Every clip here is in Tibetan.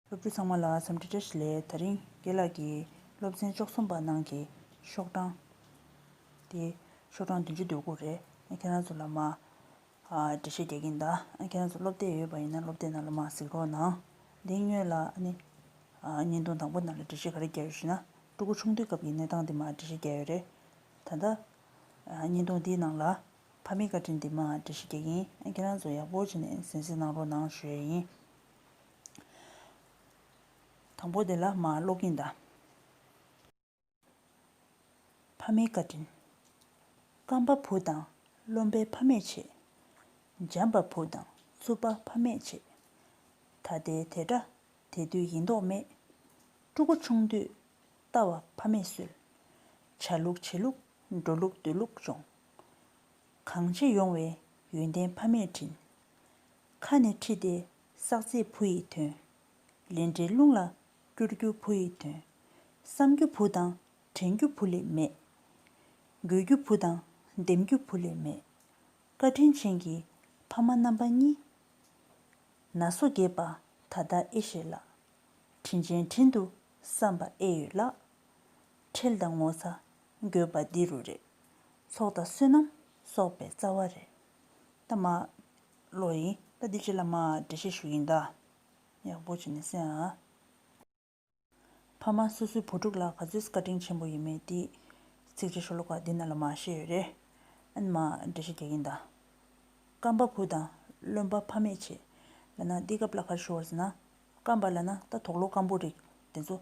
སློབ་ཕྲུག་ཚང་མ་ལ་འཚམས་འདྲི་བཀྲ་ཤིས་ལས་ད་རིང་དགེ་ལགས་ཀྱིས་སློབ་ཚན་བཅུ་གསུམ་པ་ནང་གི་ཤོག་གྲངས་དེ་ཤོག་གྲངས་བདུན་ཅུ་འདོད་དགུ་རེད་ཨ་ཁྱེད་རང་ཚོ་ལ་མ་འགྲེལ་བཤད་རྒྱག་གིན་གདའ་ཨ་ཁྱེད་རང་ཚོ་སློབ་དེབ་ཡོད་པ་ཡིན་ན་སློབ་དེབ་ནང་ལ་མ་གཟིགས་རོགས་གནང་འདི་སྨྱོས་ལ་ཨ་ནི་བརྙན་ཐུང་དང་པོ་ནང་ལ་འགྲེལ་བཤད་ག་རེ་རྒྱག་ཡོད་ཞེ་ན་སྤྲུལ་སྐུ་ཆུང་དུས་སྐབས་ཀྱི་གནས་སྟངས་དེ་མ་འགྲེལ་བཤད་རྒྱག་ཡོད་རེད་ད་ལྟ་བརྙན་ཐུང་དེའི་ནང་ལ་ཕ་མའི་བཀའ་དྲིན་དེ་མ་འགྲེལ་བཤད་རྒྱག་གིན་ཨ་ཁྱེད་རང་ཚོ་ཡག་པོ་བྱས་ནས་གཟན་གཟིགས་གནང་རོགས་གནང་ཞུ་ཡས་ཡིན། དང་པོ་དེ་ལ་མ་ཀློག་གིན་གདའ། ཕ་མའི་བཀའ་དྲིན། སྐམ་པ་བུ་དང་རློན་པའི་ཕ་མས་བྱེད། འཇམ་པ་བུ་དང་རྩུབ་པ་ཕ་མས་བྱེད། ད་ལྟའི་དེ་འདྲ་དེ་དུས་ཡིན་མདོག་མེད། ཕྲུ་གུ་ཆུང་དུས་ལྟ་བ་ཕ་མས་སུལ། བྱ་ལུགས་བྱེད་ལུགས་འགྲོ་ལུགས་སྡོད་ལུགས་སྦྱོང། གང་བྱེད་ཡོང་བའི་ཡོན་ཏན་ཕ་མས་དྲིན། ཁ་ནས་ཁྲིད་དེ་བསགས་ཚད་བུ་ཡི་དོན། ལས་འབྲས་རླུང་ལ་བསྐྱུར་རྒྱུ་བུ་ཡི་དོན། བསམ་རྒྱུ་བུ་དང་དྲན་རྒྱུ་བུ་ལས་མེད། དགོས་རྒྱུ་བུ་དང་འདེམས་རྒྱུ་བུ་ལས་མེད། བཀའ་དྲིན་ཆེན་གྱི་ཕ་མ་རྣམ་པ་གཉིས། ན་སོ་རྒས་པ་ད་ལྟ་ཨེ་ཤེས་ལགས། དྲིན་ཅན་དྲིན་དུ་བསམ་པ་ཨེ་ཡོད་ལགས། ཁྲེལ་དང་ངོ་ཚ་དགོས་པ་འདི་རུ་རེད། ཚོགས་དང་བསོད་ནམས་གསོག་པའི་རྩ་བ་རེད། ད་མ། བློ་ཡིན་ད་འདི་བྱེད་ལ་མ་འབྲེལ་བཤད་ཞུ་ཡིན་ད། ཡག་པོ་བྱེད་ནས་སེ་ཨ། ཕ་མ་སོ་སོའི་བུ་ཕྲུག་ལ་ག་ཚོད་བཀའ་དྲིན་ཆེན་པོ་ཡོད་མེད་དེ། ཚིག་རྗེས་ཤོ་ལོ་ཀ་འདི་ན་ལ་མ་བཤད་ཡོད་རེད་ཨ་ནི་མ་འབྲེལ་བཤད་རྒྱག་ཡིན་ད། བཀའ་འབའ་བུ་དང་བློན་འབའ་ཕ་མས་བྱེད་ལ་ན་འདི་སྐབས་ལ་ཁར་ཞུ་བར་ཟེར་ན། བཀའ་འབའ་ལ་ན་ད་དོག་ལོ་སྐམ་པོ་རིགས་དེ་ཚོ།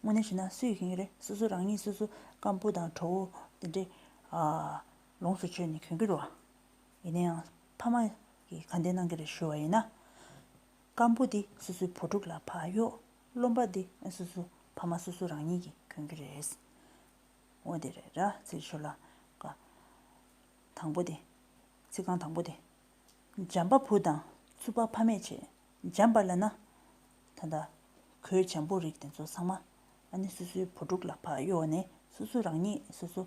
དངོས་གནས་བྱེད་ན་སུ་ཡི་གེ་ཡིན་རེད་སོ་སོ་རང་ཉིད་སོ་སོ་སྐམ་པོ་དང་གྲོགས་བོ་དེ་འདྲས། ལོངས་སུ་སྤྱོད་ནས་གྱོན་གྱི་རོ། ཡིན་ན་ཡང་ཕ་མ་གིས་གང་བདེ་གནང་གི་རེད་ཞུ་བ་ཡིན་ན། སྐམ་པོ་འདི་སོ་སོའི་བུ་ཕྲུག་ལ་བག་ཡོད་རློམ་པ་འདི་སོ་སོའི་ཕ་མ་སོ་སོ་རང་ཉིད་ཀྱིས་གྱོན་གྱི་རེད། འོ་དེ་རེད་ར་ཚིག་ཤོ་ལ་ཀ། དང་པོ་དེ། ཚིག་རྐང་དང་པོ་དེ། འཇམ་པ་བུ་དང་ཚུར་པ་ཕ་མས་བྱས་འཇམ་པར་ལེན་ན། ད་ལྟ་གོས་འཇམ་པོ་རིགས་དེ་ཚོ་ཚང་མ། ཨ་ནེ་སོ་སོའི་བུ་ཕྲུག་ལ་བག་ཡོད་ནས་སོ་སོ་རང་ཉིད་སོ་སོ།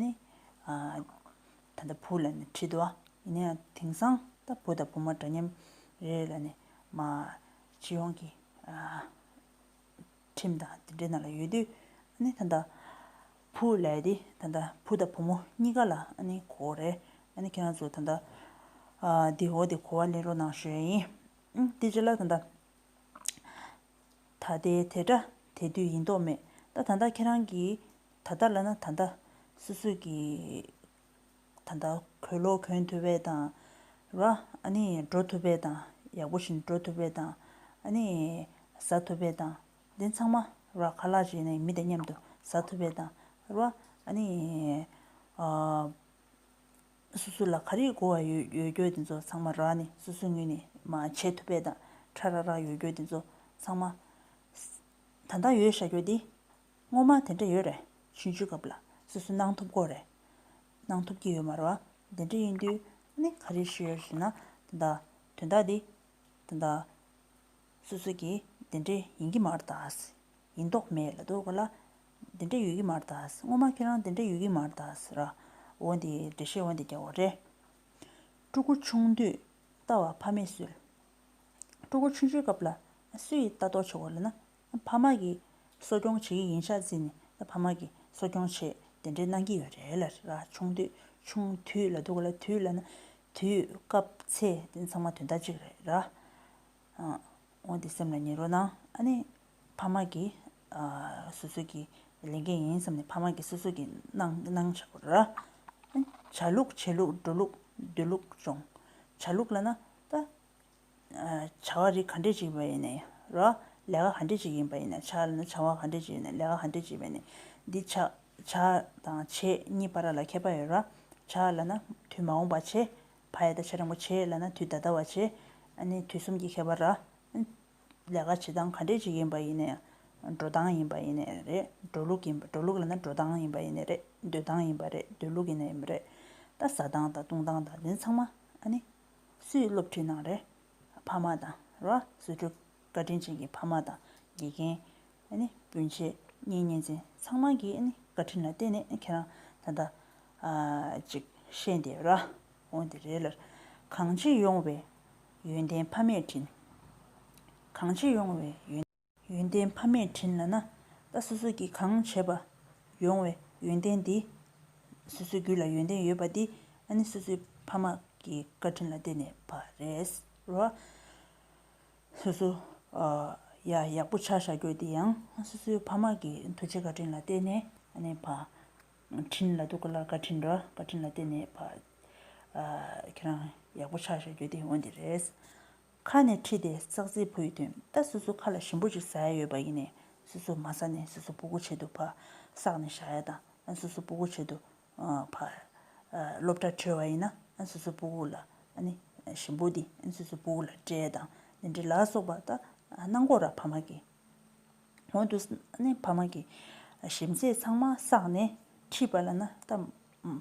ནི། ད་ལྟ་བུ་ལ་ནི་ཁྲིད་དོ། ཡིན་ན་ཡང་དེང་སང་ད་བུ་དང་བུ་མོ་འདྲ་མཉམ་རེ་རེ་ལ་ནི། སྤྱི་ཡོངས་ཀྱི་ཁྲིམས་དང་དེ་འདྲའི་ནང་ལ་ཡོད་དུས། ནི་ད་ལྟ་བུ་ལས་ཏེ་ད་ལྟ་བུ་དང་བུ་མོ་གཉིས་ཀ་ལ་ནི་གོ་རེ། ནི་ཁྱེད་རང་ཚོ་ད་ལྟ་འདི་འོ་འདི་གོ་བ་ལེན་རོགས་གནང་ཞུ་ཡ་ཡིན། དེ་རྗེས་ལ་ད་ལྟ། ད་ལྟའི་དེ་སྒྲ་དེ་དུས་ཡིན་དོགས་མེད་ད་ད་ད་ཁྱེད་རང་གི་ད་ད་ལ་ན་ད་ད། སུད་སུད་ཀྱི་ད་ད་གོས་ལོག་གོན་ཐུབ་པའི་ད་ར་ཨ་ནི་འགྲོ་ཐུབ་པའི་ད་ཡག་པོ་བཞིན་འགྲོ་ཐུབ་པའི་ད་ཨ་ནི་ཟ་ཐུབ་པའི་ད་འདི་ཚང་མ་ར་ཁ་ལག་བྱས་ནས་མི་དང་མཉམ་དུ་ཟ་ཐུབ་པའི་ད་ར་ཨ་ནི། སོ་སོ་ལ་ག་རེ་གོ་བ་ཡོད་ཡོད་རྒྱུ་དེ་ཚོ་ཚང་མ་རག་ནས་སོ་སོའི་ངོས་ནས་མ་བྱས་ཐུབ་པའི་དང་ཁྲ་རག་རག་ཡོད་རྒྱུ་དེ་ཚོ་ཚང་མ། ད་ལྟ་ཡོད་བྱ་རྒྱུ་དེ། སྔོན་མ་དེ་འདྲ་ཡོད་རེད་ཕྱིན་ཆོད་སྐབས་ལ་སོ་སོ་གནང་ཐུབ་གོ་རེད། གནང་ཐུབ་ཀྱི་ཡོད་མ་རེད་བ། དེ་འདྲ་ཡིན་དུས་ནི་ག་རེ་བྱེད་ཡོད་ཟེར་ན། ད་ལྟ་དོན་དག་འདི། ད་ལྟ། སོ་སོ་ཀྱིས་འདི་འདྲ་ཡིན་གྱི་མ་རེད་ད། ཡིན་མདོག་མེད་ལ་འདུག་ག་ལ། འདི་འདྲ་ཡོད་ཀྱི་མ་རེད་ད། སྔོན་མ་ཁྱེད་རང་འདི་འདྲ་ཡོད་ཀྱི་མ་རེད་ད། ར་འོ་འདི་འདྲ་བཤད་འོ་འདི་རྒྱག་འོ་རེད། སྤྲུལ་སྐུ་ཆུང་དུས་ལྟ་བ་ཕ་མས་སུལ། སྤྲུལ་སྐུ་ཆུང་ཆུང་སྐབས་ལ་སུ་ཡིས་ལྟ་རྟོག་བྱེད་འོ་རེད་ན། ཕ་མ་གིས་གསོ་སྐྱོང་བྱེད་ཀྱི་ཡིན་ཤ་ཚིག་ནི་ཕ་མ་གིས་གསོ་སྐྱོང་བྱེད་དེ་འདྲས་གནང་གྱི་ཡོད་རེད་ལ་ར་ཆུང་དུས་ཆུང་དུས་ལ་འདུག་ག་ལ་དུས་ལ་ན་དུས་སྐབས་ཚེ་འདི་ཚང་མ་དུས་ཟླ་གཅིག་རེད་ར། འོན་ཏེ་སེམས་ལ་ཉེ་རོ་ན་ཨ་ནི། ཕ་མ་གིས་སོ་སོ་གྱི་ལས་འགན་ཡིན་བསམས་ནས་ཕ་མ་གིས་སོ་སོ་གྱི་གནང་བྱ་བར། བྱ་ལུགས་བྱེད་ལུགས་འགྲོ་ལུགས་སྡོད་ལུགས་སྦྱོང་བྱ་ལུགས་ལ་ན་ད། བྱ་བ་རིགས་ག་འདྲས་ཅིག་བས་ནས་རོ། ལས་ཀ་ག་འདྲས་ཅིག་ཡིན་པ་ཡིན་ན་བྱ་ལ་ན་བྱ་བ་ག་འདྲས་ཅིག་ཡིན་ན་ལས་ཀ་ག་འདྲས་ཅིག་བས་ནས། འདི་བྱ། བྱ་དང་བྱེད་གཉིས་པ་ར་ལ་ཁད་པ་ཡོད་ར། བྱ་ལ་ན་དུས་མ་འོངས་པ་བྱེད། བྷ་ཡ་ད་ཆ་རིན་པོ་ཆེ་ལ་ན་དུས་ད་ལྟ་བ་བྱེད། ནི་དུས་གསུམ་གྱི་ཁྱད་པར་ར། ལས་ཀ་བྱེད་སྟངས་ག་འདྲས་ཅིག་ཡིན་པ་ཡིན་ནས། འགྲོ་སྟངས་ཡིན་པ་ཡིན་ནས་རེད། འགྲོ་ལུགས་ཡིན་པ་འགྲོ་ལུགས་ལ་ན་འགྲོ་སྟངས་ཡིན་པ་ཡིན་ནས་རེད། སྡོད་སྟངས་ཡིན་པ་རེད་སྡོད་ལུགས་ཡིན་ནས་རེད། ད་ཟ་སྟངས་དང་བཏུང་སྟངས་དང་འདི་ཚང་མ། ནི། སུས་སློབ་ཁྲིད་གནང་རེད། ཕ་མ་དང་རོ་བཟོ་གྲུ་ག་དྲིན་ཅན་གྱི་ཕ་མ་དང་དགེ་རྒན། སྤུན་མཆེད་གཉེན་ཉེ་ཚན་ཚང་མ་གྱི་བཀའ་དྲིན་ལ་བརྟེན་ནས་ཁྱེད་རང་ད་ལྟ་ཅིག་ཤེས་འདི་ར་འོང་འདི་རེད་ལར་གང་ཅི་ཡོང་བའི་ཡོན་ཏན་ཕ་མས་དྲིན། གང་ཅི་ཡོང་བའི་ཡོན། ཡོན་ཏན་ཕ་མས་དྲིན་ལ་ན། ད་སོ་སོ་གྱིས་གང་བྱས་པ། ཡོང་བའི་ཡོན་ཏན་འདི། སོ་སོའི་རྒྱུད་ལ་ཡོན་ཏན་ཡོད་པ་འདི་ཨ་ནི་སོ་སོའི་ཕ་མ་གི་བཀའ་དྲིན་ལ་བརྟེན་ནས་བ་རེད། རོ། སོ་སོ། ཡ་ཡག་པོ་ཆགས་བྱ་རྒྱུ་འདི་ཡང་སོ་སོའི་ཕ་མ་གི་མཐུ་ཆེ་བཀའ་དྲིན་ལ་བརྟེན་ནས་ཨ་ནི་བ། དྲིན་ལ་ཐུགས་ཀ་ལ་བཀའ་དྲིན་རོ་བཀའ་དྲིན་ལ་བརྟེན་ནས་བ། ཁྱེད་རང་ཡག་པོ་ཆགས་བྱ་རྒྱུ་འདི་འོ་འདི་རེད། ཁ་ནས་ཁྲིད་དེ་ཙག་ཙིག་བུ་ཡི་དོན་ལྟ་སོ་སོ་ཁ་ལ་ཞིམ་པོ་ཅིག་ཟ་ཡ་ཡོད་པ་ཡིན་ནས་སོ་སོ་མ་ཟ་ནས་སོ་སོ་སྤུ་གུ་བྱེད་དུ་ཕ་སག་ནས་བཞག་ཡ་དང་སོ་སོ་སྤུ་གུ་བྱེད་དུ་ཕ། སློབ་གྲྭ་གྲོལ་བ་ཡིན་ན་སོ་སོ་སྤུ་གུ་ལ་ནི་ཞིམ་པོ་འདི་སོ་སོ་སྤུ་གུ་ལ་སྤྲད་ཡ་དང་འདི་འདྲ་ལ་སོགས་པ་ལྟ་སྣང་གོ་ར་ཕ་མ་གི་ངོ་དུ་ནི་ཕ་མ་གི་ཞིམ་ཟས་ཚང་མ་སག་ནས་ཁྲིད་པ་ལ་ན་ལྟ་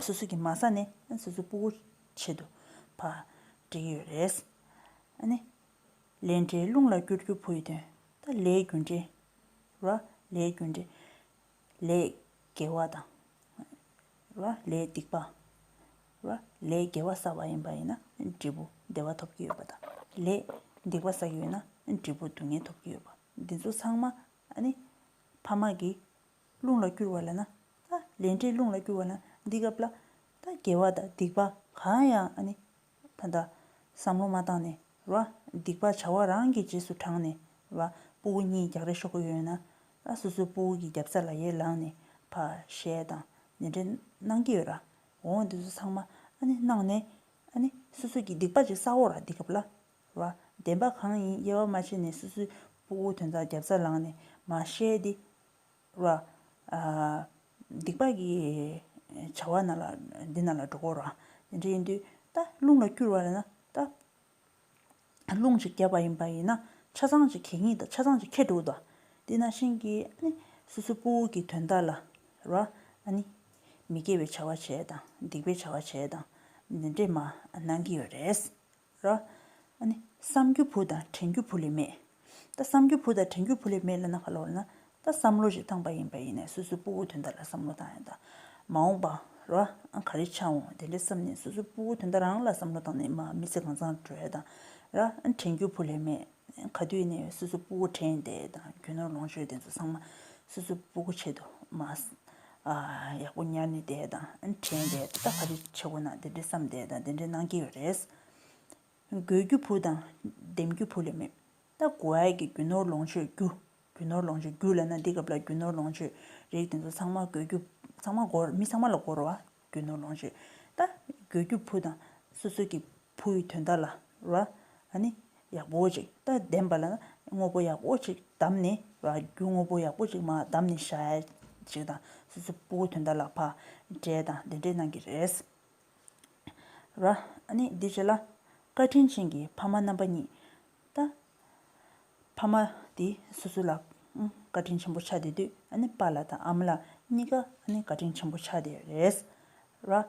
སོ་སོ་གི་མ་ཟ་ནས་སོ་སོ་སྤུ་གུ་བྱེད་དུ་བ། འགྲིག་ཡོད་རེད། ཨ་ནི། ལས་འབྲས་རླུང་ལ་བསྐྱུར་རྒྱུ་བུ་ཡི་དོན། ད་ལས་རྒྱུ་འབྲས། ར། ལས་རྒྱུ་འབྲས། ལས། དགེ་བ་དང། ར། ལས་སྡིག་པ། ར། ལས་དགེ་བ་བསགས་པ་ཡིན་པ་ཡིན་ན་འབྲས་བུ་བདེ་བ་ཐོབ་ཀྱི་ཡོད་པ་དང། ལས། སྡིག་པ་བསགས་ཡོད་ན་འབྲས་བུ་སྡུག་བསྔལ་ཐོབ་ཀྱི་ཡོད་པ། འདི་ཚོ་ཚང་མ། ཨ་ནི། ཕ་མ་གི། རླུང་ལ་བསྐྱུར་བ་ལ་ན། ལས་འབྲས་རླུང་ལ་བསྐྱུར་བ་ལ་ན་འདི་སྐབས་ལ། དགེ་བ་དང་སྡིག་པ་གང་ཡང་ད་ལྟ། བསམ་བློ་མ་བཏང་ནས་ར། སྡིག་པ་བྱ་བ་རང་གི་རྗེས་སུ་འབྲངས་ནས་ར། སྤུ་བོ་གཉིས་རྒྱག་རེ་ཤོག་གི་ཡོད་ན། སོ་སོའི་སྤུ་བོ་གི་རྒྱབ་རྩ་ལ་ཡས་ལངས་ནས་བ། ཞེས་དང་ནན་འདྲེན་གནང་གི་ཡོད་ར། འོ་འདི་ཚོ་ཚང་མ་གནང་ནས། སོ་སོ་གི་སྡིག་པ་ཅིག་བསག་འོག་ར་འདི་སྐབས་ལ། བ། བདེན་པ་གང་ཡིན་དབྱེ་བ་མ་ཕྱེ་ནས་སོ་སོའི་སྤོ་བོ་དོན་དག་རྒྱབ་རྩ་ལངས་ནས་མ་བཤད་དེ། བ། སྡིག་པ་གི་བྱ་བ་ན་ལ་འདི་ན་ལ་འགྲོ་གོ་རང་དེ་འདྲ་ཡིན་དུས་ད་རླུང་ལ་བསྐྱུར་བ་ལ་ན་ད། རླུང་གཅིག་རྒྱབ་པ་ཡིན་པ་ཡིན་ན་ཆ་ཚང་གཅིག་གད་སྙིགས་དང་ཆ་ཚང་གཅིག་ཁད་འགྲོ་གོ་ད། དེ་ན་ཤིང་གི་ནི་སོ་སོའི་སྤོ་བོ་གི་དོན་དག་ལ། བ། ནི། མི་དགེ་བའི་བྱ་བ་བྱས་དང་སྡིག་པའི་བྱ་བ་བྱས་དང། འདི་འདྲས་མ་གནང་གི་ཡོད་རེད། ར། ཨ་ནི། བསམ་རྒྱུ་བུ་དང་དྲན་རྒྱུ་བུ་ལས་མེད། ད་བསམ་རྒྱུ་བུ་དང་དྲན་རྒྱུ་བུ་ལས་མེད་ལ་ན་ག་ལ་བར་ན། ད་བསམ་བློ་ཞིག་བཏང་པ་ཡིན་པ་ཡིན་ནས་སོ་སོའི་སྤུ་བོ་དོན་དག་ལ་བསམ་བློ་བཏང་ཡོད་ད། མ་འོངས་པ། ར། ཨ་ག་རེ་ཆ་འོང་དེ་འདྲའི་བསམ་ནས་སོ་སོའི་སྤུ་བོ་དོན་དག་རང་ལ་བསམ་བློ་བཏང་ནས་མ་མི་ཚེ་གང་བཟང་བགྲོད་ཡོད་ད། ར། དྲན་རྒྱུ་བུ་ལས་མེད། ག་དུས་ནས་སོ་སོ་སྤུ་གུ་དྲན་ཏེ་དང་རྒྱུ་ནོར་ལོངས་སྤྱོད་དེ་ཚོ་ཚང་མ་སོ་སོ་སྤུ་གུ་ཆེད་དུ་མ་ཡག་པོ་ཉར་ནས་བསྡད་དང་དྲན་ཏེ་ད་ག་རེ་བྱེད་དགོས་ན་དེ་འདྲས་བསམ་བསྡད་དང་དེ་འདྲས་གནང་གི་ཡོད་རེད། དགོས་རྒྱུ་བུ་དང་འདེམས་རྒྱུ་བུ་ལས་མེད། ད་དགོས་ཡག་གི་རྒྱུ་ནོར་ལོངས་སྤྱོད་རྒྱུ་རྒྱུ་ནོར་ལོངས་སྤྱོད་རྒྱུ་ལ་ན་འདི་སྐབས་ལ་རྒྱུ་ནོར་ལོངས་སྤྱོད་རིགས་དེ་ཚོ་ཚང་མ་དགོས་རྒྱུ་ཚང་མ་འགོར་མི་ཚང་མ་ལ་འགོར་བ་རྒྱུ་ནོར་ལོངས་སྤྱོད་ད་དགོས་རྒྱུ་བུ་དང་སོ་སོ་གི་བུ་ཡི་དོན་དག་ལ་ར། ནི། ཡག་པོ་ཅིག་ལྟ་བདེན་པ་ལ་ན་དངོས་པོ་ཡག་པོ་ཅིག་བདམས་ནས་ར་རྒྱུ་དངོས་པོ་ཡག་པོ་ཅིག་མ་བདམས་ནས་ཤ་ཡ་ཅིག་དང་སོ་སོའི་བུ་གུ་དོན་དག་ལ་ཕ། འདྲེ་དང་བདེན་འདྲེ་གནང་གི་རེད། ར། ནི། འདི་བྱས་ལ། བཀའ་དྲིན་ཅན་གྱི་ཕ་མ་རྣམ་པ་གཉིས། ད། ཕ་མ་དེ་སོ་སོ་ལ་བཀའ་དྲིན་ཆེན་པོ་ཆགས་བསྡད་དུས་ཨ་ཕ་ལ་དང་ཨ་མ་ལ་གཉིས་ཀ་བཀའ་དྲིན་ཆེན་པོ་ཆགས་བསྡད་རེད།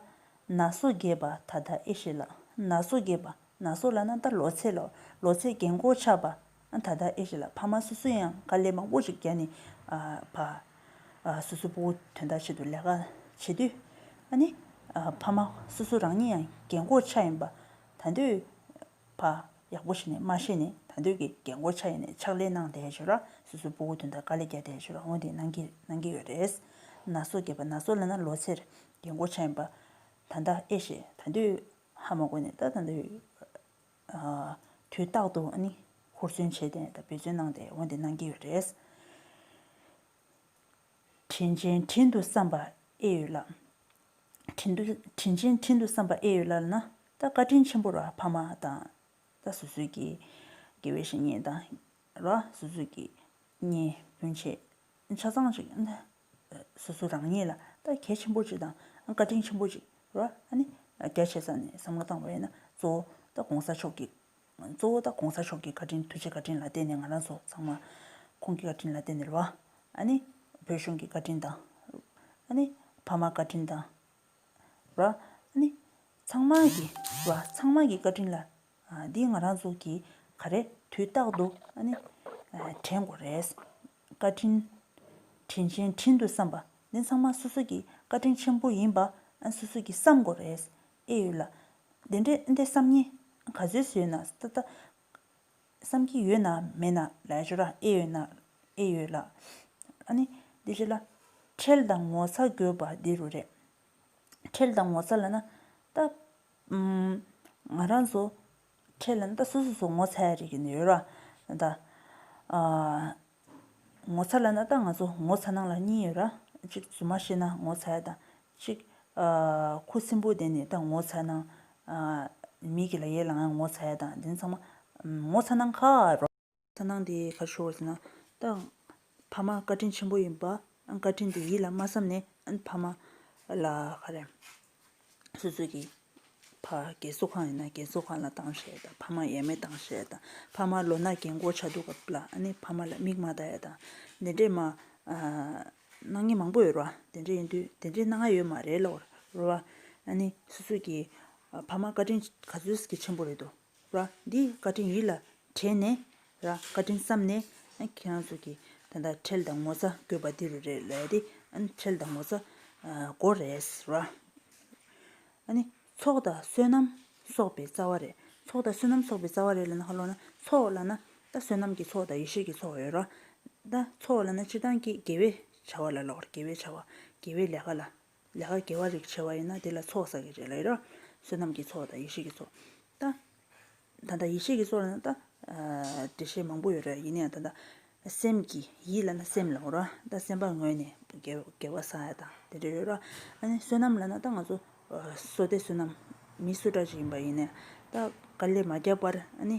ར། ན་སོ་རྒས་པ་ད་ད་ཨེ་ཤེས་ལགས་ན་སོ་རྒས་པ་ན་སོ་ལ་ན་ད་ལོ་ཚད་ལ་ལོ་ཚད་གན་འགོག་ཆགས་པ་ད་ད་ཨེ་ཤེས་ལགས་ཕ་མ་སོ་སོ་ཡང་དཀའ་ལས་མང་པོ་ཞིག་བརྒྱ་ནས་བ། སོ་སོ་པོ་དོན་དག་ཆེད་དུ་ལས་ཀ་བྱེད་དུས་ཨ་ཕ་མ་སོ་སོ་རང་ཉིད་ཡང་གན་འགོག་ཆགས་ཡིན་པ་ད་འདོད། བ། ཡག་པོ་ཤེས་ནས་མ་ཤེས་ནི་ད་འདོད་ཀྱི་རྒན་བསྐོར་ཆ་ཡིན་ནས་ཕྱག་ལས་གནང་བསྡད་བྱོས་ལ་སོ་སོའི་སྤོ་བོ་དུན་དང་དཀའ་ལས་རྒྱག་བསྡད་བྱོས་ལ་འོན་ཏེ་གནང་གི་གནང་གི་ཡོད་རེད། ན་སོ་རྒྱས་པ་ན་སོ་ལ་ན་ལོ་ཚེར་རྒན་བསྐོར་ཆ་ཡིན་པ། ད་ལྟ་ཨེ་ཤེས་ད་འདོད་ཧ་མ་གོ་ནས་ད་ད་འདོད། དུས་རྟག་ཏུ་ནི་ཧུར་བརྩོན་བྱས་ཏེ་ད་འབད་བརྩོན་གནང་བསྡད་འོན་ཏེ་གནང་གི་ཡོད་རེད། དྲིན་ཅན་དྲིན་དུ་བསམ་པ་ཨེ་ཡོད་ལགས། དྲིན་དུ་དྲིན་ཅན་དྲིན་དུ་བསམ་པ་ཨེ་ཡོད་ལགས་ན། ད་བཀའ་དྲིན་ཆེན་པོ་ར་ཕ་མ་དང། ད་སུད་སུད་ཀྱི་དགེ་བའི་བཤེས་གཉེན་དང། ར་སུད་སུད་ཀྱི་གཉེན་སྤུན་ཆེ་ཆ་ཚང་ཞིག་ན། སུད་སུད་རང་ཉིད་ལ་ད་གལ་ཆེན་པོ་ཅིག་དང་བཀའ་དྲིན་ཆེན་པོ་ཅིག་ར་ཨ་ནི་རྒྱ་ཆེ་ས་ནས་བསམ་བློ་བཏང་བས་ན་གཙོ་བོ་ད་གོང་ས་མཆོག་གིས་གཙོ་བོ་ད་གོང་ས་མཆོག་གི་བཀའ་དྲིན་ཐུགས་རྗེ་བཀའ་དྲིན་ལ་བརྟེན་ནས་ང་རང་ཚོ་ཚང་མ། ཁོང་གི་བཀའ་དྲིན་ལ་བརྟེན་ནས་ལོ། ཨ་ནི། བོད་གཞུང་གི་བཀའ་དྲིན་དང། ཨ་ནི། ཕ་མ་བཀའ་དྲིན་དང། ར། ཨ་ནི། ཚང་མ་གི། ར། ཚང་མ་གི་བཀའ་དྲིན་ལ། འདི་ང་རང་ཚོ་གི། ག་རེ། དུས་རྟག་ཏུ། ཨ་ནི། དྲན་དགོས་རེད། བཀའ་དྲིན། དྲིན་ཆེན་དྲིན་དུ་བསམ་པ། འདི་ཚང་མ་སོ་སོ་གི་བཀའ་དྲིན་ཆེན་པོ་ཡིན་པ། སོ་སོ་གི་བསམ་དགོས་རེད། ཨེ་ཡོད་ལ། དེ་འདྲའི་ཨེ་འདྲའི་བསམ་ངན། ག་ཚོད་བཟོས་ན་ད་ལྟ། བསམ་གྱི་ཡོད་ན་མེད་ན་ལས་སྦྱོར་ཨེ་ཡོད་ན་ཨེ་ཡོད་ལ། ཨ་ནི། དེ་བྱས་ལ། ཁྲེལ་དང་ངོ་ཚ་དགོས་པ་འདི་རུ་རེད། ཁྲེལ་དང་ངོ་ཚ་ལ་ན། ད། ང་རང་ཚོ། ཁྲེལ་ལ་ན་ད་སོ་སོ་སོ་ངོ་ཚ་ཡ་རེད་ཀྱི་ཡོད་ར། ད། ངོ་ཚ་ལ་ན་ད་ང་ཚོ་ངོ་ཚ་ནང་ལ་གཉིས་ཡོད་ར། གཅིག་རྫུན་མ་ཤེས་ན་ངོ་ཚ་ཡ་དང། གཅིག་ཁུ་སིམ་པོ་བསྡད་ནས་ད་ངོ་ཚ་ནང། མི་གི་ལ་ཡའི་ལ་ང་ངོ་ཚ་ཡ་དང་དེ་ཚང་མ་ངོ་ཚ་ནང་ཁ་རོ། ཚ་ནང་དེ་གར་ཤོར་བ་ཟེར་ན། ད་ཕ་མ་བཀའ་དྲིན་ཆེན་པོ་ཡིན་པ། བཀའ་དྲིན་དེ་ཡིད་ལ་མ་བསམ་ནས་ཨ་ཕ་མ་ལ་ཧ་རེ། སོ་སོ་གི། ཕ་རྒན་གསོ་ཁང་ཡིན་ན་རྒན་གསོ་ཁང་ལ་གཏང་ཤེས་དང་ཕ་མ་ཡས་མས་གཏང་ཤེས་དང་ཕ་མ་ལོ་ན་རྒན་བསྐོར་བྱ་འདུག་སྐབས་ལ་ནི་ཕ་མ་ལ་མིག་མ་ཟླ་ཡས་དང་དེ་འདྲས་མ། གནང་ངེས་མང་པོ་ཡོད་རོ་དེ་འདྲས་ཡིན་དུས་དེ་འདྲས་གནང་ང་ཡོད་མ་རེད་ལོག་རོ། ཨ་ནི་སོ་སོ་གི། ཕ་མ་བཀའ་དྲིན་ག་ཚོད་ཀྱི་ཆེན་པོ་རེད་དོ། ར། འདི་བཀའ་དྲིན་ཡིད་ལ་དྲན་ནས། ར། བཀའ་དྲིན་བསམ་ནས། ཁྱེད་རང་ཚོ་གི་ད་ལྟ་ཁྲེལ་དང་ངོ་ཚ་དགོས་པ་འདི་རུ་རེད་ལ་ཡ་དེ། ཁྲེལ་དང་ངོ་ཚ་མགོ་རེད། ར། ཨ་ནི། ཚོགས་དང་བསོད་ནམས་གསོག་པའི་རྩ་བ་རེད། ཚོགས་དང་བསོད་ནམས་གསོག་པའི་རྩ་བ་རེད་ལ་ན་ཧ་ལོ་ན། ཚོགས་ལ་ན། ད་བསོད་ནམས་ཀྱི་ཚོགས་དང་ཡེ་ཤེས་ཀྱི་ཚོགས་ཡོད་ར། ད་ཚོགས་ལ་ན་སྤྱིར་བཏང་གི་དགེ་བའི་བྱ་བ་ལ་ལོག་ར་དགེ་བའི་བྱ་བ། དགེ་བའི་ལས་ཀ་ལ་ལས་ཀ་དགེ་བ་རིགས་བྱེད་པ་ཡིན་ན་དེ་ལ་ཚོགས་བསགས་ཀྱི་རེད་ལ་ཡོད་རང་བསོད་ནམས་ཀྱི་ཚོགས་དང་ཡེ་ཤེས་ཀྱི་ཚོགས་དང། ད་ལྟ་ཡེ་ཤེས་ཀྱི་ཚོགས་ལ་ན་ད་འགྲེལ་བཤད་མང་པོ་ཡོད་རེད་ཡིན་ན་ཡང་ད་ལྟ་སེམས་ཀྱི་ཡིད་ལ་ན་སེམས་ལ་ངོ་རང་ད་སེམས་པ་ངོས་ནས་དགེ་བ་བསགས་ཡ་དང་དེ་འདྲ་ཡོད་རང་ཨ་ནི་བསོད་ནམས་ལ་ན་ད་ང་ཚོ་བསོ་སྟེ་བསོད་ནམས་མི་བསོ་དྲག་ཅིག་ཡིན་པ་ཡིན་ན་ད་དཀའ་ལས་མ་བརྒྱབ་པར་ཨ་ནི་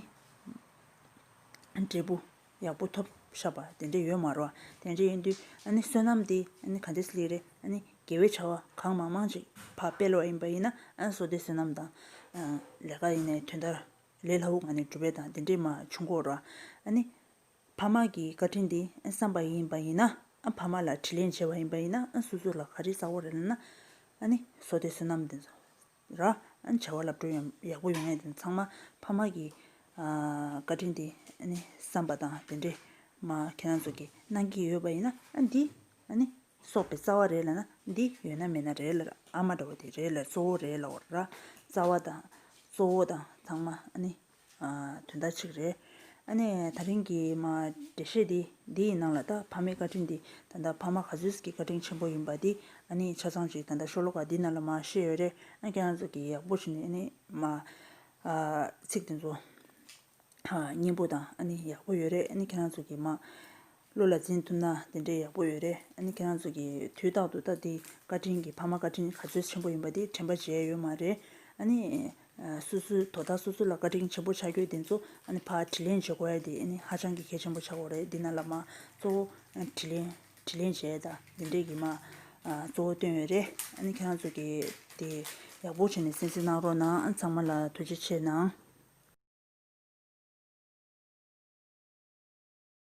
འབྲས་བུ། ཡག་པོ་ཐོབ་ཤག་པ་དེ་འདྲ་ཡོད་མ་རོག་དེ་འདྲ་ཡིན་དུས་ཨ་ནི་བསོད་ནམས་དེ་ཨ་ནི་ག་འདྲས་ལེགས་རེད་ཨ་ནི་དགེ་བའི་བྱ་བ་གང་མང་མང་ཅིག་ཕ་སྤེལ་བ་ཡིན་པ་ཡིན་ན་ཨ་བསོ་བདེ་བསོད་ནམས་དང་ལས་ཀ་ཡིན་ནའི་དུས་མཐར་ལས་སླ་བོ་ང་ནས་སྒྲུབ་པའི་དང་དེ་འདྲས་མ་བྱུང་གོ་རོག་ཨ་ནི་ཕ་མ་གི་བཀའ་དྲིན་དེ་ཨ་བསམ་པ་ཡིན་པ་ཡིན་ན་ཨ་ཕ་མ་ལ་དྲིས་ལན་བྱས་པ་ཡིན་པ་ཡིན་ན་ཨ་སོ་སོ་ལ་ག་རེ་བསགས་བ་རེད་ལབ་ན་ཨ་ནི་བསོ་བདེ་བསོད་ནམས་དེ་ཚོ། རང་བྱ་བ་ལ་འགྲོ་ཡག་པོ་ཡོང་ཡས་དེ་ཚང་མ་ཕ་མ་གི་བཀའ་དྲིན་དེ་བསམ་པ་དང་དེ་འདྲས་མ་ཁྱེད་རང་ཚོ་གི་གནང་གི་ཡོད་པ་ཡིན་ན་འདི་གསོག་པའི་རྩ་བ་རེད་ལ་ན་འདི་ཡོད་ན་མེད་ན་རེད་ལ་ཨ་མ་འདྲ་བ་དེ་རེད་ལ་གཙོ་བོ་རེད་ལ་ར་རྩ་བ་དང་གཙོ་བོ་དང་ཚང་མ་དོན་དག་ཅིག་རེད། ཨ་ནེ། ད་རིང་གི་མ་འགྲེལ་བཤད་དེ་འདི་ཡི་ནང་ལ་ད་ཕ་མའི་བཀའ་དྲིན་དེ་ད་ལྟ་ཕ་མ་ག་ཚོད་ཀྱི་བཀའ་དྲིན་ཆེན་པོ་ཡིན་པ་དེ་ཨ་ནེའི་ཆ་ཚང་ཅིག་ད་ལྟ་ཤོ་ལོ་ཀ་འདི་ན་ལ་མ་ཤེས་ཡོད་རེད་ཨ་ཀྱ་ང་ཚོ་གི་ཡག་པོ་བྱས་ནས་ཨ་ནེ་མ་ཚིག་དེ་ཚོ་སྙན་པོ་དང་ཨ་ནེ་ཡག་པོ་ཡོད་རེད་ཨ་ནེ་ཁྱེད་རང་ཚོ་གི་མ། བློ་ལ་འཛིན་ཐུབ་ན་དེ་འདྲའི་ཡག་པོ་ཡོད་རེད་ཨ་ནི་ཁྱེད་རང་ཚོ་གིས་དུས་རྟག་ཏུ་ད་ལྟའི་བཀའ་དྲིན་གྱི་ཕ་མ་བཀའ་དྲིན་ག་ཚོད་ཆེན་པོ་ཡིན་པ་དེ་དྲན་པ་བྱས་ཡོད་མ་རེད་ཨ་ནི། སོ་སོའི་དོ་བདག་སོ་སོ་ལ་བཀའ་དྲིན་ཆེན་པོ་ཆགས་རྒྱུ་དེ་ཚོ་ཨ་ནི་ཕ་དྲིན་ལན་བྱེད་དགོས་དེ་ཨ་ནི་ཧ་ཅང་གི་གལ་ཆེན་པོ་ཆགས་དགོས་རེད་འདི་ན་ལ་མ་གཙོ་བོ་དྲིན་ལན་དྲིན་ལན་བྱས་ད་འདི་འདྲས་ཀྱི་མ་གཙོ་བོ་བཏོན་ཡོད་རེད་ཨ་ནི་ཁྱེད་རང་ཚོ་གིས་དེ་ཡག་པོ་བྱས་ནས་གསན་གཟིགས་གནང་རོགས་གནང་ཚང་མ་ལ་ཐུགས་རྗེ་ཆེ་གནང།